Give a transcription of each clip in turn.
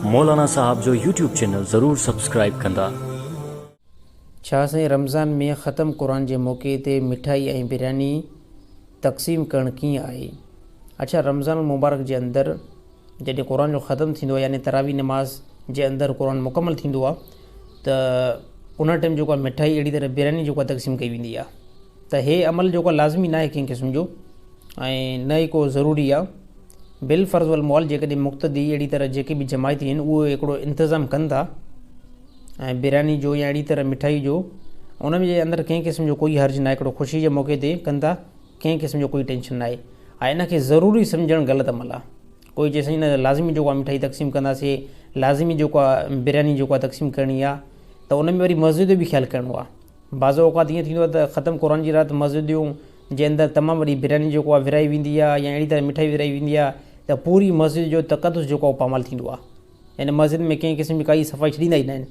مولانا صاحب جو YouTube channel ضرور سبسڪرائيب ڪندا. ڇا سائين رمضان ۾ ختم قرآن جي موقعي تي مٺائي ۽ برياني تقسيم ڪرڻ ڪيئن آهي اڇا رمضان المبارڪ جي اندر جڏهن قرآن جو ختم ٿيندو آهي يعني تراويح نماز جي اندر قرآن مڪمل ٿيندو آهي ته ان ٽيم جيڪو آهي مٺائي اهڙي طرح برياني جيڪو آهي تقسيم ڪئي ويندي آهي ته هي عمل جيڪو آهي لازمي ناهي ڪنهن قسم جو ۽ نه ئي ڪو ضروري آ. بالفرض والمحال جيڪڏهن مقتدي اهڙي طرح جيڪي به جماعتي آهن اهو هڪڙو انتظام ڪن ٿا ۽ برياني جو يا اهڙي طرح مٺائي جو انهن جي اندر ڪنهن قسم جو ڪوئي حرج ناهي هڪڙو خوشي جي موقعي تي ڪن ٿا ڪنهن قسم جو ڪوئي ٽينشن ناهي ها ان کي ضروري سمجهڻ غلط عمل آ. ڪوئي چئي سائين نه لازمي جيڪو آ مٺائي تقسيم ڪنداسي لازمي جيڪو آ برياني جيڪو آ تقسيم ڪرڻي آ ته ان ۾ وري مسجد جو به خيال ڪرڻو آ. بعض اوقات ائين ٿيندو آهي ته ختم قرآن جي رات مسجديون جي اندر تمام وڏي برياني جيڪو آهي ورهائي ويندي آهي يا اهڙي طرح مٺائي ورهائي ويندي آهي ته پوري مسجد جو تقدس جيڪو آهي پامال ٿيندو آهي يعني مسجد ۾ ڪنهن قسم جي ڪائي صفائي ڇڏيندا ئي ناهن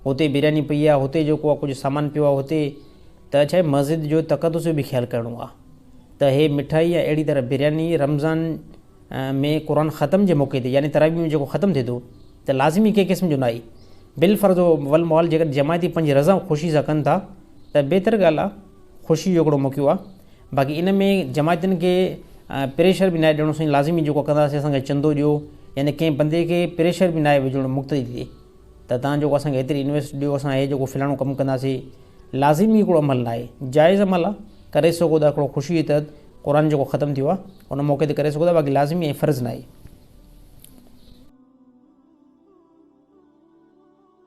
هتي برياني پئي آهي هتي جيڪو آهي ڪجهه سامان پيو آهي هتي ته ڇا مسجد جو تقدس جو به خيال ڪرڻو آهي ته هي مٺائي يا اهڙي طرح برياني رمضان ۾ قرآن ختم جي موقعي تي يعني تراويح ۾ جيڪو ختم ٿئي ٿو ته لازمي ڪنهن قسم جو ناهي بالفرض والمحال جيڪڏهن جماعتي پنج رضا خوشي سان ڪن ٿا ته بهتر ڳالهه آهي خوشي جو هڪڙو موقعو آهي باقي ان ۾ جماعتين کي پريشر به ناهي ڏيڻو سائين لازمي جيڪو ڪنداسين اسان کي چندو ڏيو يعني ڪنهن بندي کي پريشر به ناهي وجهڻو مقتدي تي ته تان جيڪو اسان کي ايتري انويسٽ ڏيو اسان هي جيڪو فلاڻو ڪم ڪنداسين لازمي هڪڙو عمل ناهي جائز عمل آ ڪري سگهو ٿا هڪڙو خوشي جي تحت قرآن جيڪو ختم ٿيو آ ان موقعي تي ڪري سگهو ٿا باقي لازمي ۽ فرض ناهي.